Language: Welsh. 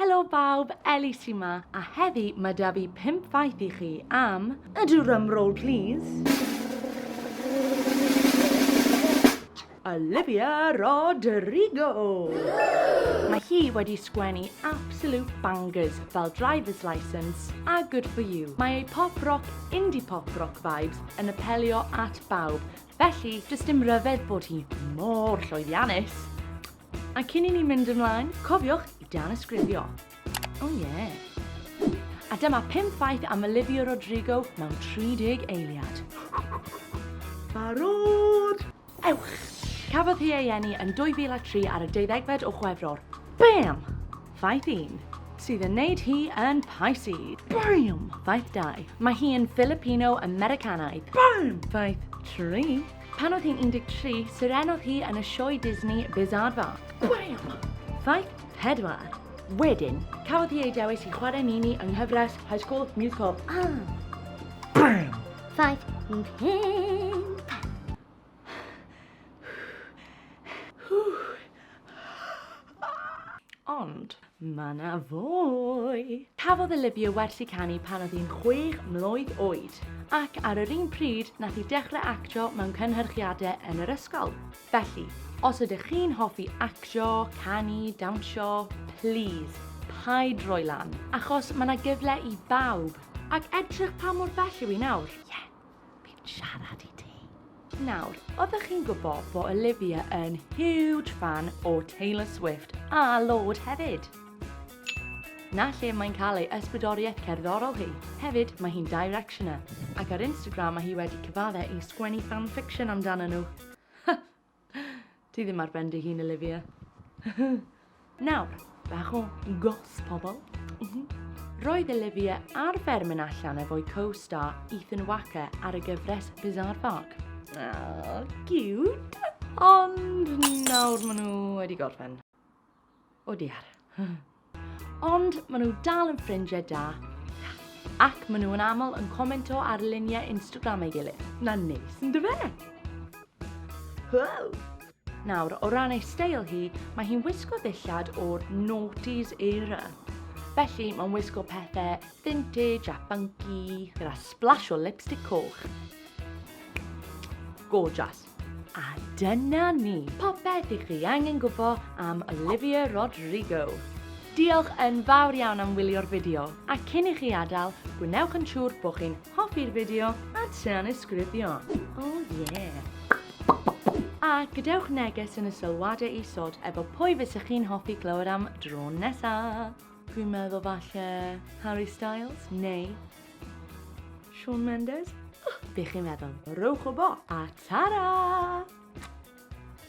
Helo bawb, Ellie sy 'ma, a heddi mae 'da fi pump ffaith i chi am... A drum roll please! Olivia Rodrigo! Mae hi wedi sgwennu absolute bangers fel Driver's Licence a Good For You. Mae ei pop rock, indie pop rock vibes yn apelio at bawb, felly does dim ryfedd bod hi mor llwyddiannus! A cyn i ni mynd ymlaen, cofiwch i danysgrifio. O oh, ie. Yeah. A dyma 5 ffaith am Olivia Rodrigo mewn 30 eiliad. Barod! Ewch! Cafodd hi ei eni yn 2003 ar y deuddegfed o Chwefror. Bam! Ddaeth un, sydd yn neud hi yn Pisces. Bam! Ddaeth dau, mae hi yn Filipino-Americanaidd. Bam! Ddaeth tri, pan oedd hi'n 13, sirenodd hi yn y sioe Disney Bizarva. Bam! Ddaeth pedwar. Wedyn, cafodd hi ei dewis i chwarae Mimi yng nghyfres High School Musical. Ah! Bam! Ddaeth pump. Ond mae 'na fwy! Cafodd Olivia wersi canu pan oedd hi'n chwech mlwydd oed, ac ar yr un pryd nath hi dechrau actio mewn cynhyrchiadau yn yr ysgol. Felly, os ydych chi'n hoffi actio, canu, dawnsio, plîs, paid rhoi lan, achos mae 'na gyfle i bawb, ac edrych pa mor bell yw hi nawr. Ie! Fi'n siarad i ti. Nawr, oeddech chi'n gwybod bod Olivia yn huge fan o Taylor Swift a Lorde hefyd? Na lle mae'n cael ei ysbrydoriaeth cerddorol hi. Hefyd, mae hi'n directioner, ac ar Instagram mae hi wedi cyfadde i sgwennu fanfiction amdano nhw. Ti ddim ar ben dy hun, Olivia. Nawr, bach o gos, pobl. Mhm. Roedd Olivia ar fer mynd allan efo'i co-star Ethan Wacker ar y gyfres Bizarre Park. Oh, cute! Ond nawr maen nhw wedi gorffen. O diar. Ond maen nhw dal yn ffrindiau da. Ac maen nhw yn aml yn comento ar luniau Instagram ei gilydd. Na neis yn dyfe? Wow! Nawr, o ran ei steil hi, mae hi'n wisgo ddillad o'r noughties era. Felly, mae'n wisgo pethau vintage a funky gyda splash o lipstick coch. Gorgeous. A dyna ni, popeth i chi angen gwybod am Olivia Rodrigo. Diolch yn fawr iawn am wylio'r fideo, a cyn i chi adael, gwnewch yn siŵr bod chi'n hoffi'r fideo a tanysgrifio. O oh yeah! A gadewch neges yn y sylwadau isod efo pwy fysa chi'n hoffi clywed am dro nesa! Dwi'n meddwl falle Harry Styles neu Shawn Mendes? Be chi'n meddwl? Rowch wbo a tara!